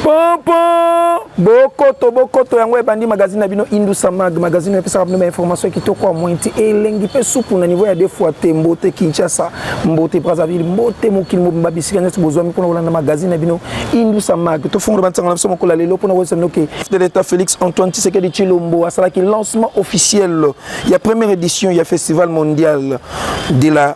pompo bokoto bokoto yango ebandi magazine na bino indusa mag magazine epesaka bino bainformation ya kitoko ya moyen ti elengi mpe supu na niveau ya deux fois te mbote kinshasa mbote brazzaville mbote mokili mobimba bisika nyonso bozwami mpona kolanda magazine na bino indusa mag tofongola bansango na biso mokola lelo mpona koyesa bino ke de l'état félix antoine tshisekedi tshilombo asalaki lancement officiel ya première édition ya festival mondial de la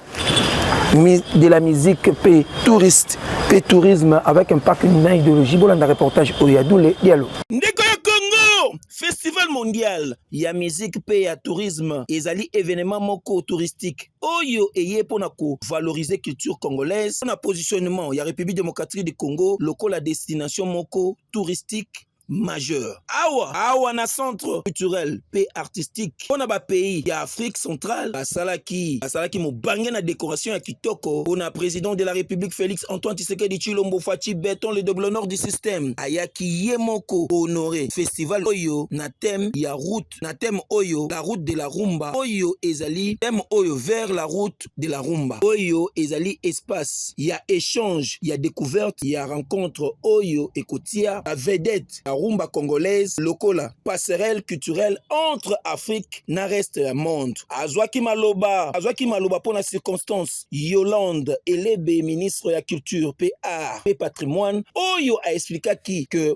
de la musique pe touriste pe tourisme avec impact na idéologie bolanda reportage oyo ya dule dialo ndeko ya congo festival mondial ya musique pe ya tourisme ezali événement moko touristique oyo eye mpo na kovalorize culture congolaise mpo na positionnement ya république démocratique du congo lokola destination moko touristique majeur awa awa na centre culturel mpe artistique mpo na bapays ya afrique centrale basalaki basalaki mobange na décoration ya kitoko mpo na président de la république félix antoine tshisekedi tshilombo faci beton le doblonor du système ayaki ye moko honore festival oyo na thème ya route route na thème oyo la route de la rumba oyo ezali thème oyo vers la route de la rumba oyo ezali espace ya échange ya découverte ya rencontre oyo ekotia ba vedette ya rumba congolaise lokola passerelle culturelle entre Afrique na reste ya monde azwaki maloba azwaki maloba mpo na circonstance Yolande Elebe ministre ya culture pe art pe patrimoine oyo a expliquaki que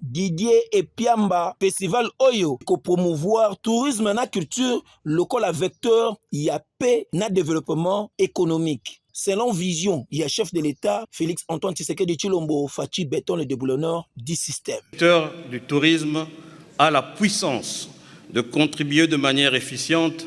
Didier Epiamba, festival oyo ko promouvoir tourisme na culture lokola vecteur ya paix na développement économique. Selon vision ya chef de l'État Félix Antoine Tshisekedi Tshilombo Fatshi Beton le déboulonneur du système. Le secteur du tourisme a la puissance de contribuer de manière efficiente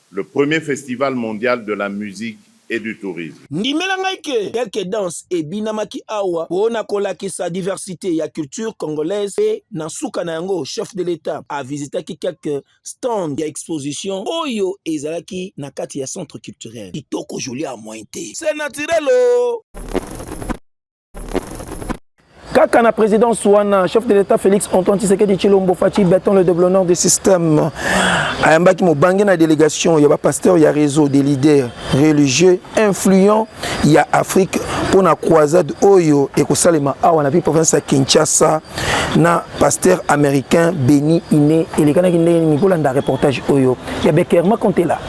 Le premier festival mondial de la musique et du tourisme. Ndimela ngai que quelques danses ebinamaki awa po na kolakisa diversite ya culture congolaise pe na suka na yango Chef de l'Etat a visitaki quelques stands ya exposition oyo ezalaki na kati ya centre culturel. Kitoko jolie à moins te c'est naturel oh. kaka na présidence wana chef de l'état félix antoine tshisekedi tshilombo faci beton le déblonneur de système ayambaki mobange na délégation ya bapasteur ya réseau des leaders religieux influents ya afrique mpo na croisade oyo ekosalema awa na pi province ya kinshasa na pasteur américain beni ine elekanaki ndenge nini kolanda reportage oyo ya bekerma kontela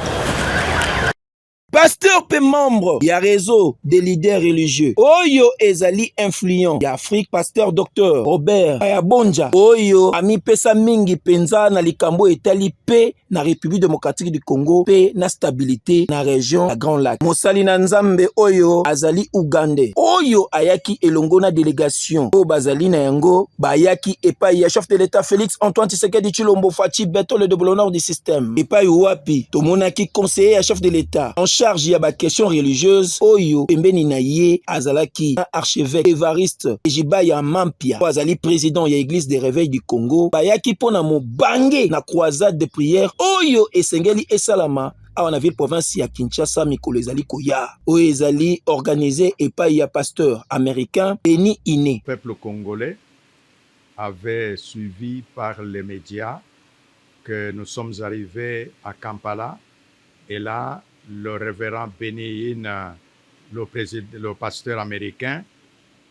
pasteur mpe membre ya réseau des leaders religieux oyo ezali influent ya afrique pasteur docteur robert ayabonja oyo amipesa mingi mpenza na likambo etali mpe na république démocratique du congo mpe na stabilité na région ya grand lac mosali na nzambe oyo azali ougandais oyo ayaki elongo na délégation gestion oyo bazali na yango bayaki epai ya chef de l'etat Felix Antoine Tshisekedi Tshilombo Fatshi Beton le double honneur du système epai wapi tomonaki conseiller ya chef de l'etat en charge ya ba questions religieuses oyo pembeni na ye azalaki na archevêque Evariste Ejibaya Mampia oyo azali président ya église de réveil du Congo bayaki mpo na mobange na croisade de prière oyo esengeli esalama awa na ville province ya Kinshasa mikolo ezali koya oyo ezali organise epai ya pasteur américain Denis Ine. Peuple congolais avait suivi par les medias que nous sommes arrivés à Kampala et là le révérend Benny Hinn, le, le pasteur américain,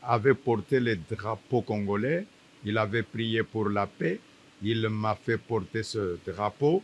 avait porté le drapeau congolais, il avait prié pour la paix, il m'a fait porter ce drapeau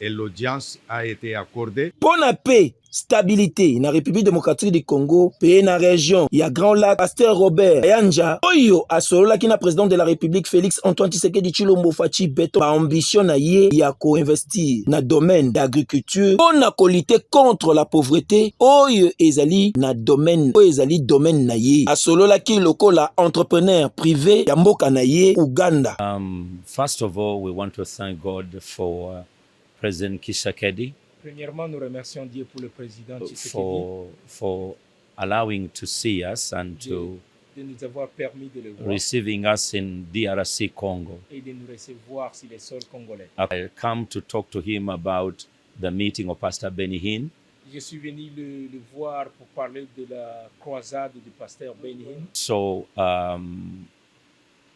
et l'audience a ete accordee. Mpo na paix, stabilite na Republique democratique du Congo mpe na region ya Grand Lac, Pasteur Robert Kayanja oyo asololaki na president de la Republique Felix Antoine Tshisekedi Tshilombo Fatshi Beton ba ambition na ye ya ko investir na domaine d'agriculture mpo na ko lutter contre la pauvrete oyo ezali na domaine oyo ezali domaine na ye. Asololaki lokola entrepreneur prive ya mboka na ye Ouganda. Um, First of all we want to thank God for President Tshisekedi. Premièrement nous remercions Dieu pour le President Tshisekedi. For, for allowing to see us and to de nous avoir permis de le voir. Receiving us in DRC Congo. Et de nous recevoir sur les sols congolais. I come to talk to him about the meeting of Pastor Benny Hinn. Je suis venu le, le voir pour parler de la croisade du pasteur Benny Hinn. So um,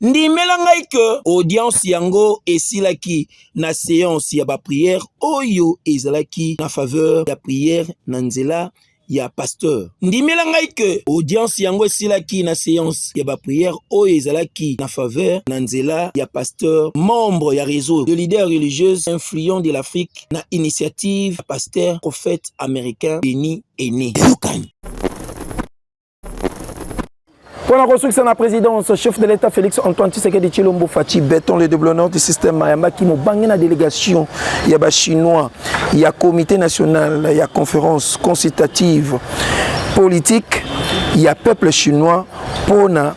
ndimela ngai ke audience yango esilaki na seance ya bapriere oyo ezalaki na faveur ya priere na nzela ya pasteur ndimela ngai ke audience yango esilaki na seance ya bapriere oyo ezalaki na faveur na nzela ya pasteur membre ya réseau de leader religieuse influent de l'afrique na initiative ya pasteur prophète américain beni ene yokani mpo na kosukisa na présidence chef de l'état félix antoine tshisekedi tshilombo faci beton le déblonnement du système mayambaki mobange na délégation ya bachinois ya comité national ya conférence consultative politique ya peuple chinois mpo na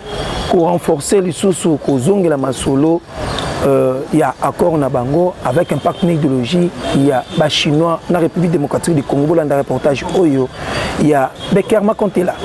korenforcer lisusu kozongela masolo euh, ya accord na bango avec impact na idéologie ya bachinois na république démocratique du congo bolanda reportage oyo ya Bekerma Kontela.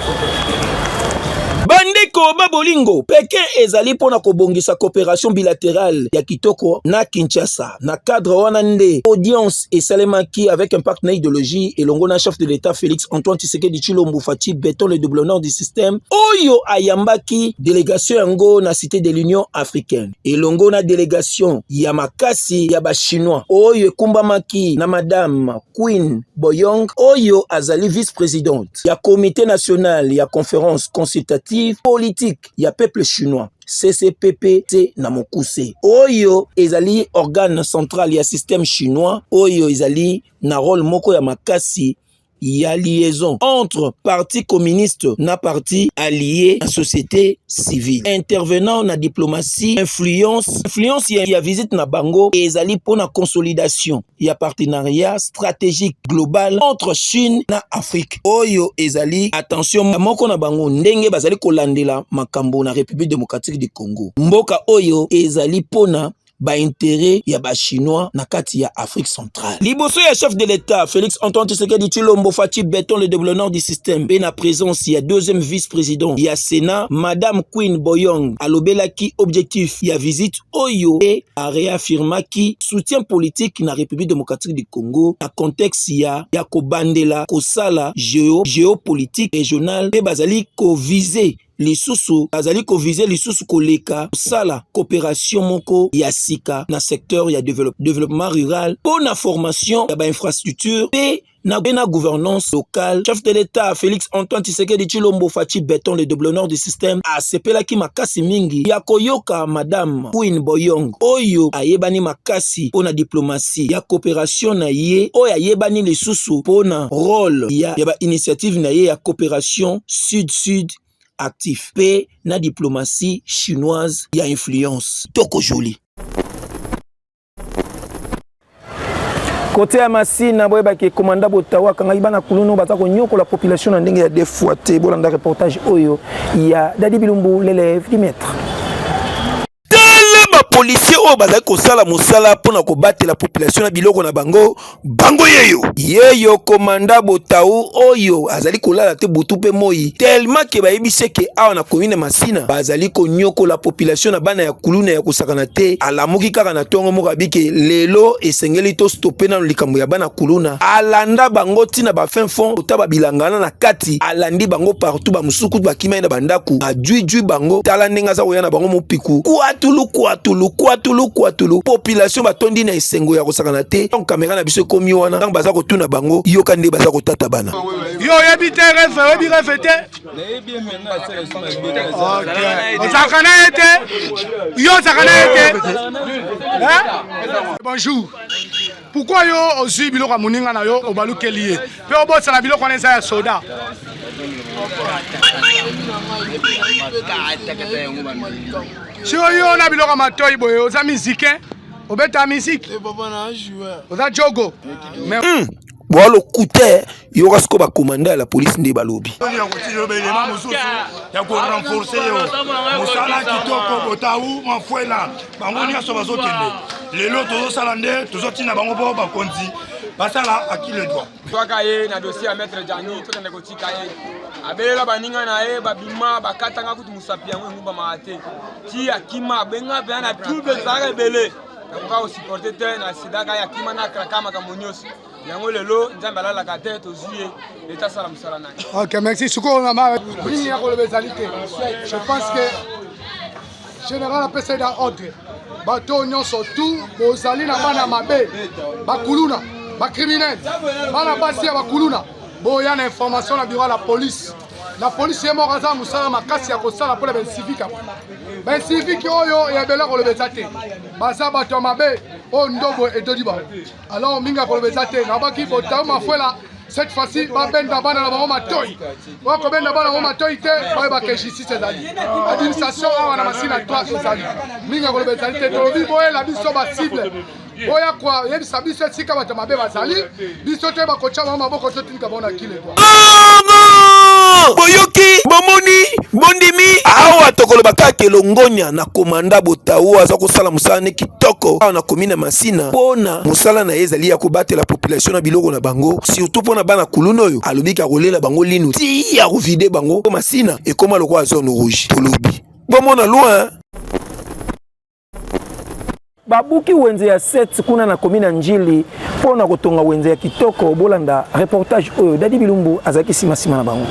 Bandeko ba bolingo, Pekin ezali mpo na kobongisa cooperation bilaterale ya kitoko na Kinshasa. Na cadre wana nde audience esalemaki avec un partenaire idéologie elongo na chef de l'État Félix Antoine Tshisekedi Tshilombo Fatshi Beton le double nord du système oyo ayambaki délégation yango na cité de l'Union africaine elongo na délégation ya makasi ya ba chinois oyo ekumbamaki na madame Queen Boyong oyo azali vice-presidente ya Comité national ya Conference consultative politique ya peuple chinois CCPPC na mokuse oyo ezali organe central ya système chinois oyo ezali na rôle moko ya makasi ya liaison entre parti communiste na parti allié na société civile intervenant na diplomatie influence influence ya, ya visite na bango ezali mpo na consolidation ya partenariat stratégique global entre Chine na Afrique oyo ezali attention moko na bango ndenge bazali kolandela makambo na République démocratique du Congo mboka oyo ezali mpona baintere ya bachinois na kati ya afrique centrale liboso ya chef de l'état félix antoine tshisekedi tshilombo faci beton le deblonor du système mpe na présence ya deuxième vice-président ya sénat madame queen boyong alobelaki objectif ya visite oyo e a reaffirmaki soutien politique na République démocratique du Congo na contexte ya ya kobandela kosala geo geopolitique régionale mpe bazali kovise lisusu bazali kovise lisusu koleka kosala coopération moko ya sika na secteur ya develop, développement rural mpo na formation ya bainfrastructure mpe na na gouvernance locale chef de l'État Félix Antoine Tshisekedi Tshilombo Fatshi Beton le double nord du système asepelaki makasi mingi ya koyoka madame Queen Boyong oyo ayebani makasi mpo na diplomatie ya coopération na ye oyo ayebani lisusu mpo na rôle ya, ya ba initiative na ye ya coopération sud-sud actif mpe na diplomatie chinoise ya influence toko jolie kote ya masina boyebaki ekomanda botawa akangaki bana kulunu baza konyokola population na ndenge ya deux fois te bolanda reportage oyo ya dadi bilumbu l'élève du maître policier oyo bazali kosala mosala mpo na kobatela population na biloko na bango bango yeyo yeyo komanda botau oyo azali kolala te butu mpe moi telema ke bayebi seke awa na komine masina bazali konyokola population na bana ya kuluna ya kosakana te alamuki kaka na ntongo moko abike lelo esengeli tostope nano likambo ya bana kuluna alanda bango ntina bafin fond ota babilangana na kati alandi bango partout bamosusu kutu bakimai na bandako ajuijui bango tala ndenge aza koya na bango mopiku kuatulu kuatulu kuatulu kuatulu population batondi na sengo ya kosakana te ntango kamera na biso ekomi wana ntango baza kotuna bango yoka nde baza kotata bana yo oyebi te refe oyebi refe te ozalaka na ye te yo ozalaka na ye te bonjour pourkoi yo ozwi biloko ya moninga na yo obalukeli ye mpe obosana biloko wana eza ya soda sio yo na biloko ya matoi boye oza mizike obeta musique eh, papa na joueur oza jogo mais hmm. boa lokuta eh. yoka sikoyo bakomanda ya la police nde balobi ya korenforce yo mosala kitoko botau mafuela bango nyonso bazokende lelo tozosala nde tozotinda bango mpo bakonzi basala akile droit Twaka ye na dossier ya maître Djangi tokende kotika ye abelela baninga na ye babima bakatanga kutu mosapi yango engumbamaka te ti akima abenga mpenza na trouble ezalaka ebele nakoka kosupporte te na sidaka ya kima na kraka makambo nyonso yango lelo nzambe alalaka te tozwi ye leta asala mosala na ye ok merci sikoyo na nini ya koloba ezali te je pense que General apesa ye da ordre bato oyo nyonso tu bozali na bana mabe bakuluna bacriminel bana basi ya bakuluna boya na information na biro ya la police la police ye moko aza mosala makasi ya kosala mpo na bainsivique yango bainsivique oyo ya bela kolobeza te baza bato ya mabe oyo ndobo edodi bango alors mingi akoloba eza te nabaki botau mafuela cette fois-ci babenda bana na bango matoi bakobenda bana bango matoi te bayeba ke justice ezali administration awa na masina 3 ezali mingi akoloba ezali te tolobi boyela biso basible boya koyebisa biso esika bato mabe bazali biso toyeba kotya bango maboko boyoki bomoni bondimi awa tokoloba kaka elongonya na komanda botau aza kosala mosala ne kitoko awa na komi na masina mpo na mosala na ye ezali ya kobatela population na biloko na bango surtout mpo na bana kuluna oyo alobi ke akolela bango linu ti ya kovide bango mpo masina ekoma lokola zone rouge tolobi bomona loin babuki wenze ya 7 kuna na komi na njili mpo na kotonga wenze ya kitoko bolanda reportage oyo dadi bilumbu azalaki simasima na bango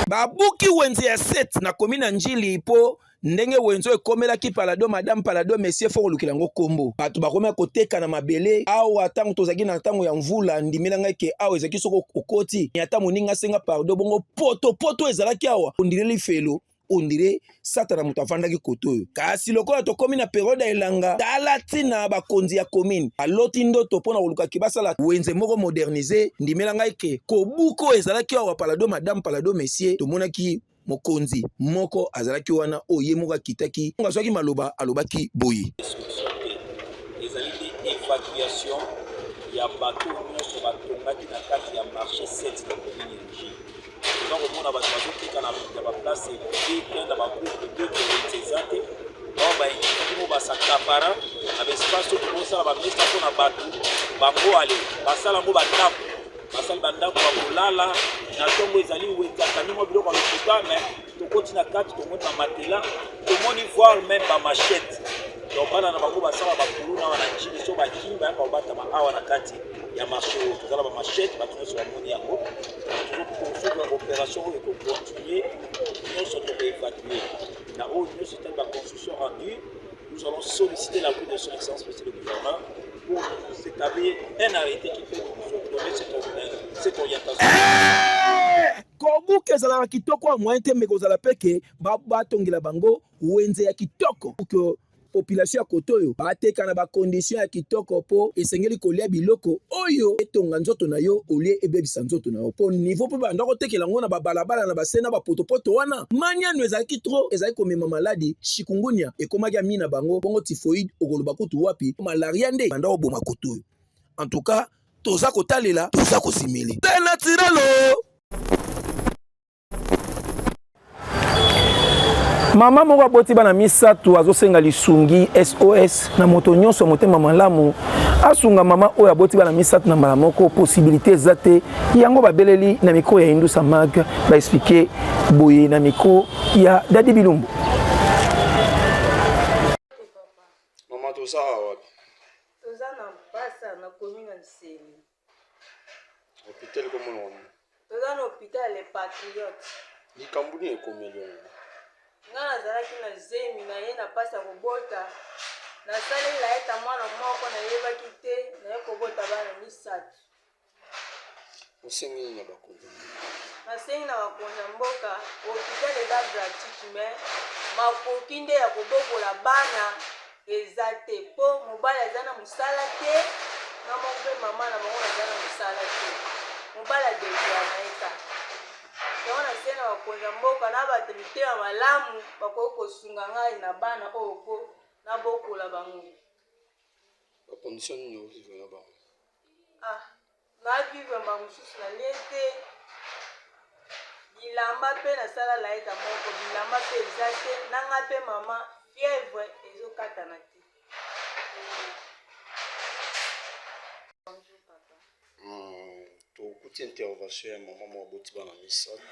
babuki wenze ya 7 na komi na njili mpo ndenge wenzo ekomelaki palado madame palado monsieur fo kolukela yango kombo bato bakomaki koteka na mabele awa ntango tozalaki na ntango ya mvula ndimela ngai ke awa ezalaki soki okoti ata moninga asenga pardo bongo potopoto ezalaki awa ondileli felo ondire satana moto afandaki kote oyo kasi lokola tokomi na periode ya elanga tala ntina bakonzi ya komine aloti ndoto mpo na kolukaki basala wenze moko modernise ndimela ngai ke kobuka oyo ezalaki awa palado madame palado messie tomonaki mokonzi moko azalaki wana oyo ye moko akitaki azwaki maloba alobaki boye ezali nde evacuation ya bato nyonso batongaki na kati ya marché 7 na komini ya oza komona bato bazokita na baplace ebongi te na bagroupe de communauté eza te bao baekipimo basakapara na baespace oyo tokosala bamesa mpo na bato bango ale basala yango bandako basali bandako bakolala na ntongo ezali wetaka ndimo biloko ya lokuta me tokoti na kati tomoni ba matelas tomoni voir même ba machettes donc bana na bango basala bakuluna awa na jini so bakimi bayaka kobatama awa na kati ya marché oyo tozala ba machette bato nyonso bamoni yango tozokosuka opération oyo ekocontinue nyonso tokoevacue na oyo nyonso etali ba construction rendue nous allons solliciter l'appui de son excellence monsieur le gouverneur pour nous établir un arrêté qui peut nous donner cette, euh, cette orientation. Eh! kobuka ezalaka kitoko ya moyen te meko ozala mpe ke batongela bango wenze ya kitoko ke population ya koto oyo bateka na bakondition ya kitoko mpo esengeli kolia biloko oyo etonga nzoto na yo olie ebebisa nzoto na yo mpo nivo mpe banda kotekela yango na babalabala na base na bapotopoto wana maniano ezalaki tro ezali komema maladi chikungunya ekomaki ami na bango bongo tifoide okoloba kutu wapi malaria nde banda koboma koto oyo en tout cas toza kotalela toza kosimili te natirelo mama moko aboti bana misato azosenga lisungi sos na moto nyonso ya motema malamu asunga mama oyo aboti bana misato na mbala moko posibilite eza te yango babeleli na mikro ya indusa mag baexplike boye na mikro ya dadi bilumbu mama toza awa toza na mpasa nakomi na nsele hôpital komona yango toza na hôpital le patriote likambo nini ekomeli yango ngai nazalaki na zemi na ye na mpasi ya kobota nasalela ye ta mwana moko nayebaki te naye kobota bana misato Osengi nini na bakonzi ya mboka? Nasengi na bakonzi ya mboka hopital eza gratuite me makoki nde ya kobokola bana eza te mpo mobali aza na mosala te na moko mpe mama na bango aza na mosala te mobali adebia na ye kaka yango nasengi na bakonzi ya mboka na bato mitema malamu bakoki kosunga ngai na bana oyo mpo nabokola bango bakondisio nini okozwa na bango Ah, nayaki vue mbala mosusu na lie te bilamba mpe nasala laeta moko bilamba mpe eza te na nga mpe mama fièvre ezokatana te hmm, tokuti intervention ya mama mwa boti bana misato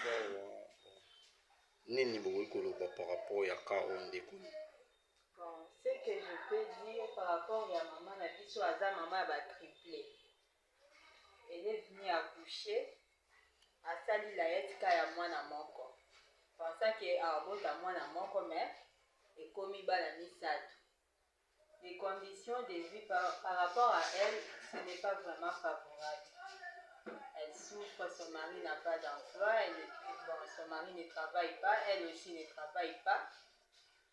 nini bokoki koloba par rapport ya ka oyo ndeko Bon ce que je peux dire par rapport ya maman na biso aza maman ya ba triplets elle est venue accoucher asali layette ka ya mwana moko pensa ke abota mwana moko mais ekomi bana misato les conditions de vie par, par rapport à elle ce n'est pas vraiment favorable elle souffre son mari n'a pas d'emploi elle ne- bon, son mari ne travaille pas elle aussi ne travaille pas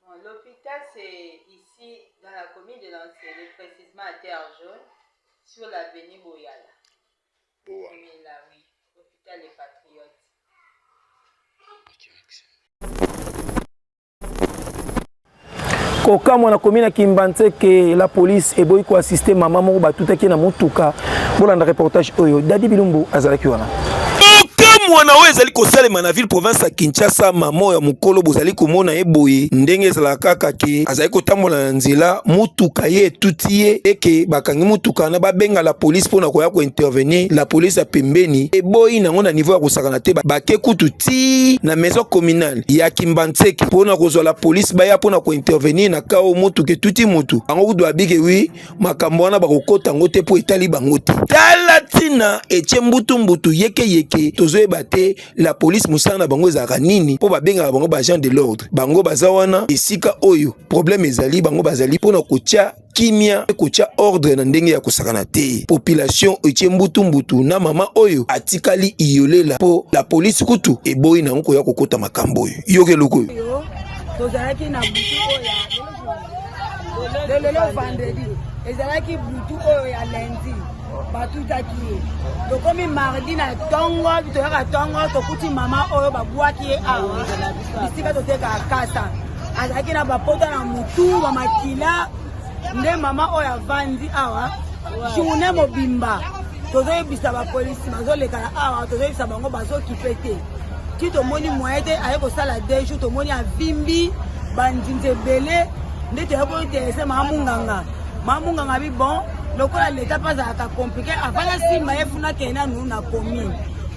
Bon, l'hôpital c'est ici dans la commune de Nansele, précisément à Terre Jaune, sur l'avenue Boyala. Boa. Oui, là, oui. Hôpital des Patriotes. kokamwa na komi na kimbanseke la police eboyi koassiste mama moko batutaki na motuka bolanda reportage oyo dadi bilumbu azalaki wana mwana oyo ezali kosalema na ville province ya kinshasa mama ya mokolo bozali komona ye boye ndenge ezalaka kaka ke azali kotambola na nzela motuka ye etuti ye eke bakangi motuka wana babenga la polise mpo na koya kointervenir la polise ya pembeni eboyi nango na niveau ya kosakana te bake kutu ti na maison communale ya kimbanseke mpo na kozwa la polise baya mpo na kointervenir na kao motuka etuti motu yango kutu babike wi makambo wana bakokota yango te mpo etali bango te tala ntina etie mbutumbutu yekeyeke tozoyeba te la polise mosala na bango ezalaka nini mpo babengaka bango baagent de l'ordre bango baza wana esika oyo probleme ezali bango bazali mpo na kotya kimia mpe kotya ordre na ndenge ya kosakana te population etie mbutumbutu na mama oyo atikali iyolela mpo la polise kutu eboyi na yango koya kokota makambo oyo yoka eloko oyo tozalaki na butu oyo lelo vendredi ezalaki butu oyo ya lundi batutaki ye tokomi mardi na ntongo toyaka ntongo tokuti mama oyo babwaki ye awa bisika totekaka kasa azalaki na bapota na motu bamakila nde mama oyo avandi awa journe mobimba tozoyebisa bapolisi bazolekana awa tozoyebisa bango bazokipe te ti tomoni moyen te aye kosala deux jours tomoni avimbi bandinzi ebele nde toyaki kointerese maa munganga maa munganga bi bon lokola leta mpe azalaka komplike avanda nsima ye funa kende nanu na commune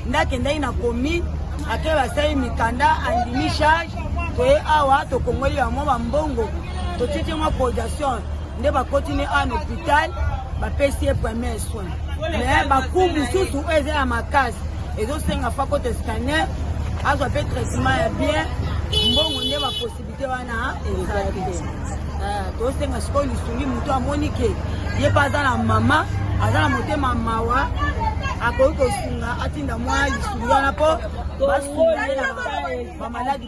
nde akendaki na commune ake basali mikanda andimi charge toye awa tokongoli bamwa bambongo totieti mwa production nde bakoti ne awa na hopital bapesi ye premier soin mais baku mosusu oyo eza ya makasi ezosenga fakote scanner azwa mpe traitement ya bien mbongo nde baposibilité wana eza te eh, tosenga sikoyo lisungi motu amoni ke ye mpe aza na mama aza na motema mawa akoki kosunga atinda mwa lisungi wana mpo basunga ye na bamaladi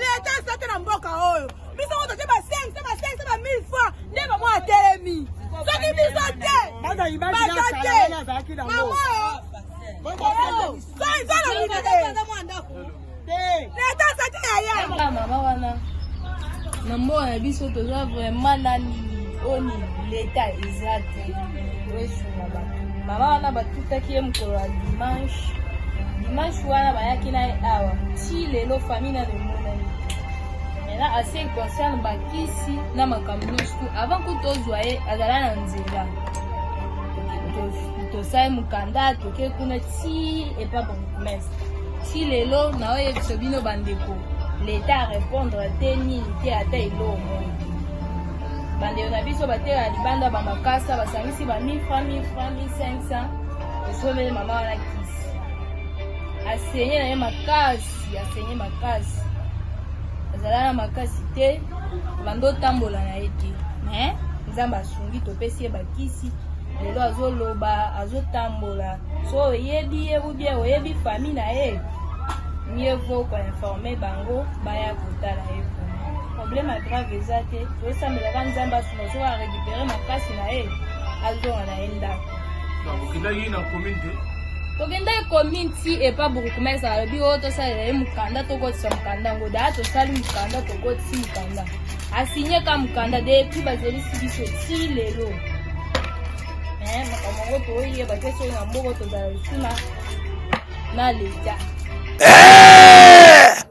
leta eza te na mboka oyo biso ngo totie ba 500 ba 500 ba 1000 fois nde bango atelemi soki biso te baza te bango leta eza te yaya mama wana na mboka na biso toza vraiment nani boni leta eza te toesunga bato mama wana batutaki ye mokolo ya dimanche dimanche wana bayaki na ye awa ti lelo famille nano emonani mena ase concerne bakisi na makambo nyonso tu avant ku tozwa ye azala na nzela tosali mokanda toke kuna ti epa bourgmestre ti lelo naoyebisa bino bandeko leta arepondre te nini te ata eloo moko bandeko na biso bateka na libanda bamakasa basangisi ba 1000 franc 1000 franc 1500 esoleli mama wana kisi asenye na ye makasi asenye makasi azala na makasi te bando otambola na ye te me nzambe asungi topesi ye bakisi lelo azoloba azotambola so oyebi ye ubie oyebi fami na ye mieux vaut koinforme bango baya kotala ye problème ya grave eza te tosambelaka nzambe asuna soki arécupere makasi na ye azonga na ye ndako okendaki na commune te tokendaki commune ti epa bourgmestre alobi oyo tosalela ye mokanda tokotisa mokanda yango daa tosali mokanda tokotisi mokanda asigne ka mokanda depuis bazelisi biso ti lelo eh, makambo yango toyeba te soki na mboko tozala lisuna na leta eh!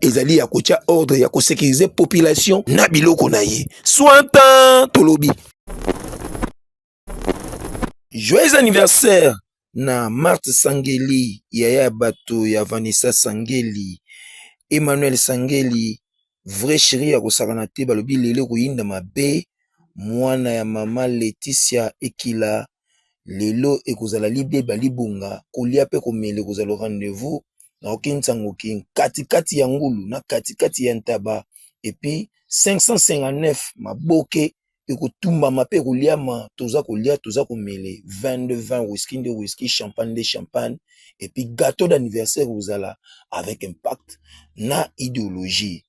ezali ya kotya ordre ya kosekirize population na biloko na ye sointan tolobi joyeux anniversaire na marte sangeli yaya ya bato ya vanessa sangeli emmanuel sangeli vrai chéri ya kosakana te balobi lelo koyinda mabe mwana ya mama leticia ekila lelo ekozala libeba libonga kolia pe komele kozala rendez-vous na kokemisa ngoki kati kati ya ngulu na kati kati ya ntaba epi 559 maboke ekotumbama pe koliama toza kolia toza komele 22 20 wiski nde wiski champagne nde champagne epi gateau d'anniversaire kozala avec impact na ideologie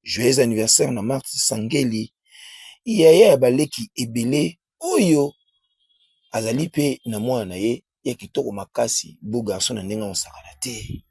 joyeux anniversaire na marti sangeli yaya ya baleki ebele oyo azali mpe na mwana na ye ya kitoko makasi beau garçon na ndenge akosakana te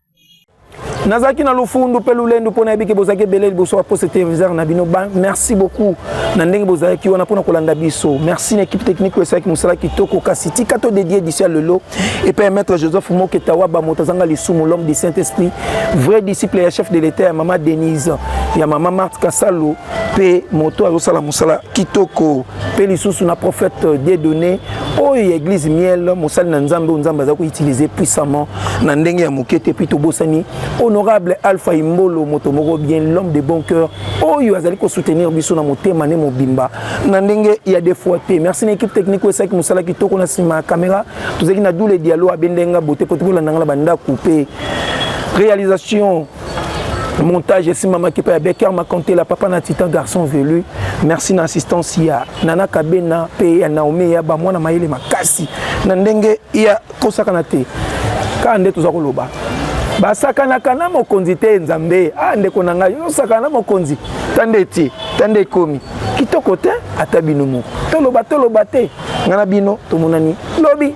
nazalaki na lofundu mpe lolendu mpo nayebi ke bozalaki ebele liboso ya poste televiseur na bino merci beaucoup na ndenge bozalaki wana mpona kolanda biso merci na équipe technique oyo esalaki mosala kitoko kasi tika to dédie edition ya lelo epai ya maître joseph moketa waba moto azanga lisumu l'homme du saint esprit vrai disciple ya chef de l'état ya mama denise ya mama marthe kasalo mpe moto azosala mosala kitoko mpe lisusu na prophète dedone oyo ya église miel mosali na nzambe oyo nzambe aza koutilize puissamment na ndenge ya moke te mpe tobosani honorable alpha imbolo moto moko bien l'homme de bon cœur oyo azali kosoutenir biso na motema ne mobimba na ndenge ya defoi te merci na équipe technique oyo esalaki mosala kitoko na nsima ya kamera tozalaki na dule dialo abendenga bote mpo tokolanda nga na bandako mpe réalisation montage esimbamaki mpe ya becker makontela papa na titan garçon velu merci na assistance ya nana kabena mpe ya naomi ya bamwana mayele makasi na ndenge ya kosakana te kaka nde toza koloba basakanaka na mokonzi te nzambe a ah, ndeko na ngai ozosakana na mokonzi ta nde etie ta nde ekomi kitoko te ata bino moko toloba toloba te ngai na bino tomonani lobi